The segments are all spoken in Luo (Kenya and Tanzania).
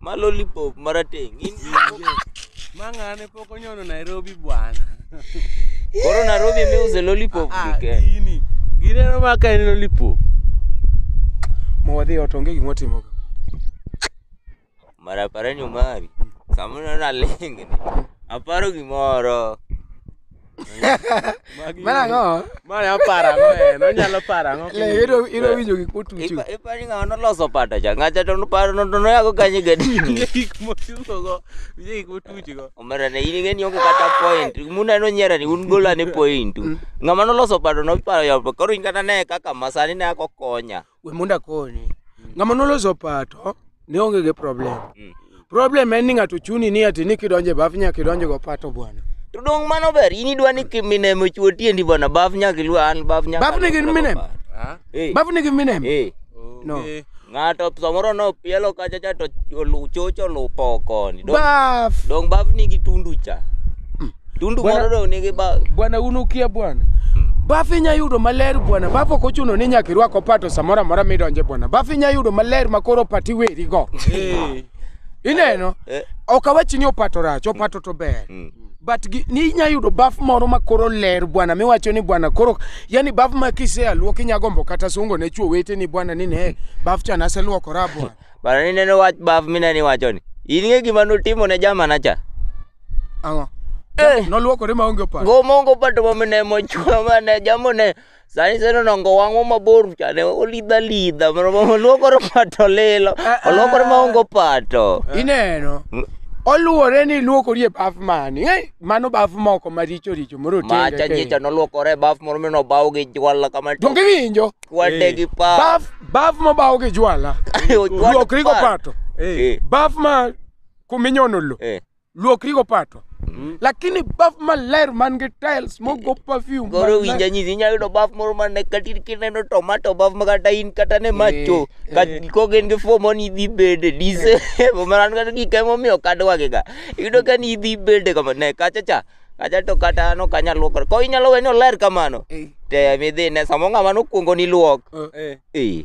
Ma lollipop marateng'. In Ma ng'ane pok onyono Nairobi bwana. koro Nairobi emiuse lollipop Ah, gi Ken. gini. Gini en ma ka en lollipop. Ma wadhi ot onge gima watimoga. Mara parani Omari. Samoro nalingni. Aparo gimoro. Magi- Mano ang'o? Mano ya para ang'o en? Onyalo para ang'o? Le, iro- iro winjo gik motucho. Ipa- ipani ng'awa noloso pata cha ng'acha to noparo no- to noyago kanye gadini Gik motuchogo, winjo gik motuchgo. omera ne in ing'eni onge kata point muna nonyiera ni un gola ni point ng'ama noloso pata noparo yapo koro in kata ne kaka masani ne ako konya we mondo akonyi ng'ama noloso pato ne onge gi problem problem en ni ng'ato chuni ni ati ni kidonjo e baf nyaka idonjo go pato bwana To dong' mano ber, in idwa ni kiminem ochuo tiendi bwana, baf nyaka iluw an, baf nyaka Baf nigi aluw minem? baf. Ah, Eh, baf nigi minem eh. No. okay. Ng'ato samoro nopielo kacha cha to olu- chocho lupo koni. Dong- baf Dong' baf nigi tundu cha. Tundu Bwana- moro dong' nigi ba- bwana un ukia bwana bafu inya yudo maler bwana bafu ok ochuno ni nyaka irwak opato samoro amora midonje bwana bafu inya yudo maler ma koro opati werigo ineno Eh. ok awachi ni opato rach opato to ber Mm. but gi- ni inya yudo baf moro ma koro ler bwana miwacho ni bwana koro yani baf ma kisea luok inya gombo kata sungo ne chuo wete ni bwana ni ne baf cha naseluokora bwana Bana ni neno wach baf mineno iwachoni. In ng'e gima notimo ne jamana cha? Ang'o? Eh. Noluokore maonge opar. Gomongo pato maminemo chwa mane jamone sani seno nongo wang'o mabor chane olidha lidha oluokore pato lilo Ah, ah. oluokore maongo pato Ineno. Oluore ni luokori e baf mani. Eh, mano baf moko maricho richo moro macha nyicha noluokore e baf moro minobaw gi jwala kama Donge winjo? kwade gi pa Baf baf mobaw gi jwala. Luokri go pato. Eh. Baf ma kuminyono lo Eh. luokrigo pato lakini baf maler man gi tiles mogo perfume Goro maler. winja nyisi inyalo yudo baf moro ma ne kata in kineno tomato baf ma kata in kata ne macho ka kok en gi fo moni idhi bede dise maran kata gik emomiyo kadwagega iyudo ka ni idhi bede kama ne kacha cha kacha to kata an ok anyal luokore ko inyalo we ni oler kamano Eh. te midhi ne samo ng'ama nokwongo ni luok Eh. eh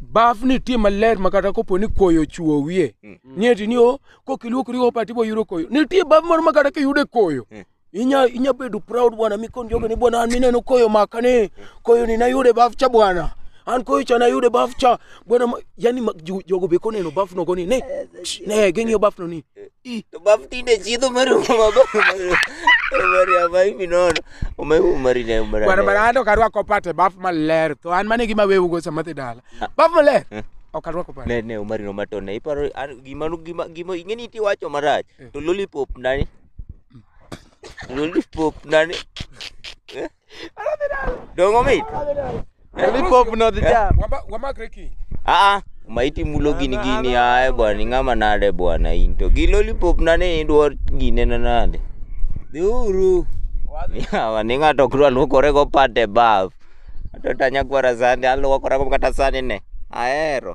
baf nitie maler ma kata kopo ni koyo chuo wiye mm. nieti ni o kokiluokri opa tibo yudo koyo nitie baf moro ma kata kiyude koyo mm. inya inya bedo proud bwana mikon jogo ni bwana an mineno koyo maka ni koyo ni nayude baf cha bwana an koyo cha nayude baf cha bwana yani jogo be koneno baf nogo ni ne ne ging'iyo baf no ni to bab tinde chiedho mar umama bab umari ama hivi nono umai umari na umari Bwana bwana hata ukarwako pate bafu maler to an mane gima wewe ugo sama dhi dala. Bafu maler. Eh. Okarwako pate. ne ne umari no matone iparo an- gima nu- gima gima ingeni iti wacho marach Eh. to lollipop nani lollipop nani Dongo mit. Lollipop no the jam. Wamba wamba kreki. Ah, ah, maiti mulo gini gini ae bwana ing'ama nade bwana in to gi lollipop nane idwar gine na nade dhiuru yawa ni ng'ato ok dwa luokore go pate baf ato tanyakwara sande aluokora go kata sani ne ahero